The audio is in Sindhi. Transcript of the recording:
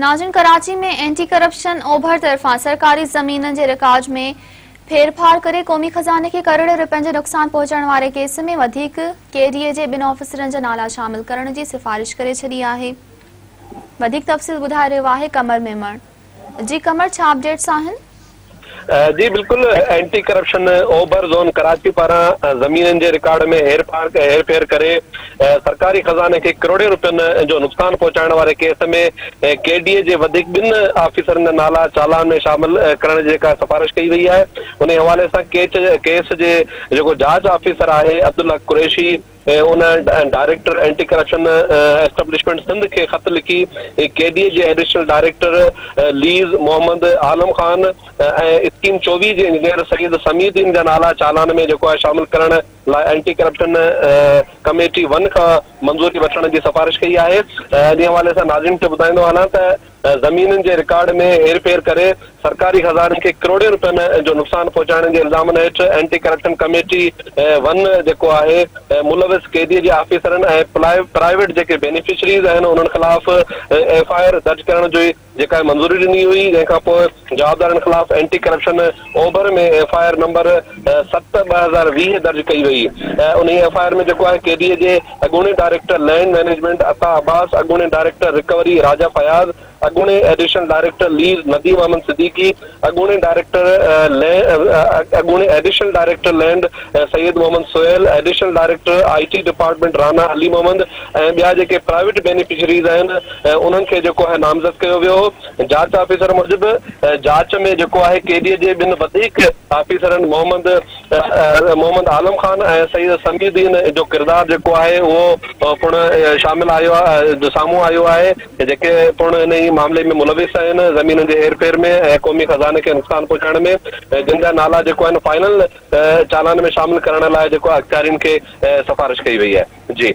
ناظرين ڪراچي ۾ اينٽي ڪرپشن اوڀر طرفان سرڪاري زمينن جي رڪاج ۾ ڦيرڦار ڪري قومي خزاني کي ڪروڙين رپين جو نقصان پهچائڻ واري ڪيس ۾ وڌيڪ ڪي ڊي اي جي ٻن آفيسرن جا نالا شامل ڪرڻ جي سفارش ڪري ڇڏي آهي وڌيڪ تفصيل ٻڌائي رهيو آهي قمر ميمڻ جي قمر ڇا اپڊيٽس آهن جي بلڪل اينٽي ڪرپشن اوڀر زون ڪراچي پاران زمينن جي رڪارڊ ۾ هيرڦير ڪري سرڪاري خزاني کي ڪروڙين روپين جو نقصان پهچائڻ واري ڪيس ۾ ڪي ڊي اي جي وڌيڪ ٻن آفيسرن جا نالا چالان ۾ شامل ڪرڻ جي جيڪا سفارش ڪئي وئي آهي انهي حوالي سان ڪيس جي جيڪو جاچ آفيسر آهي عبدالحق قريشي ان director anti corruption establishment Sindh کي خط لکي ڪي ڊي اي جي additional director lease Muhammad Alam Khan ۽ scheme چوويهه جي انجنيئر سيد سميع الدين جا نالا چالان ۾ جيڪو آهي شامل ڪرڻ لاء اينٽي ڪرپشن ڪميٽي ون کان منظوري وٺڻ جي سفارش ڪئي آهي انهي حوالي سان ناظرين کي ٻڌائيندو هلان ته ۽ زمينن جي رڪارڊ ۾ هيرڦير ڪري سرڪاري خزاني کي ڪروڙين رپين جو نقصان پهچائڻ جي الزامن هيٺ اينٽي ڪرپشن ڪميٽي ون جيڪو آهي ملوث قيديء جي آفيسرن ۽ پرائيويٽ جيڪي بينيفشريز آهن انهن خلاف ايف آء آر درج ڪرڻ جي جيڪا منظوري ڏني هئي جنهن کانپوء جوابدارن خلاف اينٽي ڪرپشن اوڀر ۾ ايف آء آر نمبر ست ٻه هزار ويهه درج ڪئي وئي ۽ انهي ايف آء آر ۾ جيڪو آء ڪي ڊي اي جي اڳوڻي director land management Ata Abbas, اڳوڻي ڊائريڪٽر رڪوري راجا فياض، اڳوڻي additional director lease Nadeem Ahmed Siddiqui, اڳوڻي ڊائريڪٽر اڳوڻي additional director land Syed Muhammad Sohail, additional director I T department Rana Ali Muhammad ۽ ٻيا جيڪي پرائيويٽ بينيفشريز آهن انهن کي جيڪو آهي نامزد ڪيو ويو هو. جاچ آفيسر موجب جاچ ۾ جيڪو آهي قيديء جي ٻن وڌيڪ آفيسرن محمد محمد عالم خان ۽ سيد سميع الدين جو ڪردار جيڪو آهي اهو پڻ شامل آيو آهي سامهون آيو آهي جيڪي پڻ ان ئي معاملي ۾ ملوث آهن زمينن جي هير ڦير ۾ ۽ قومي خزاني کي نقصان پهچائڻ ۾ جن جا نالا جيڪو آهن فائنل چالان ۾ شامل ڪرڻ لاء جيڪو اختيارين کي سفارش ڪئي وئي آهي جي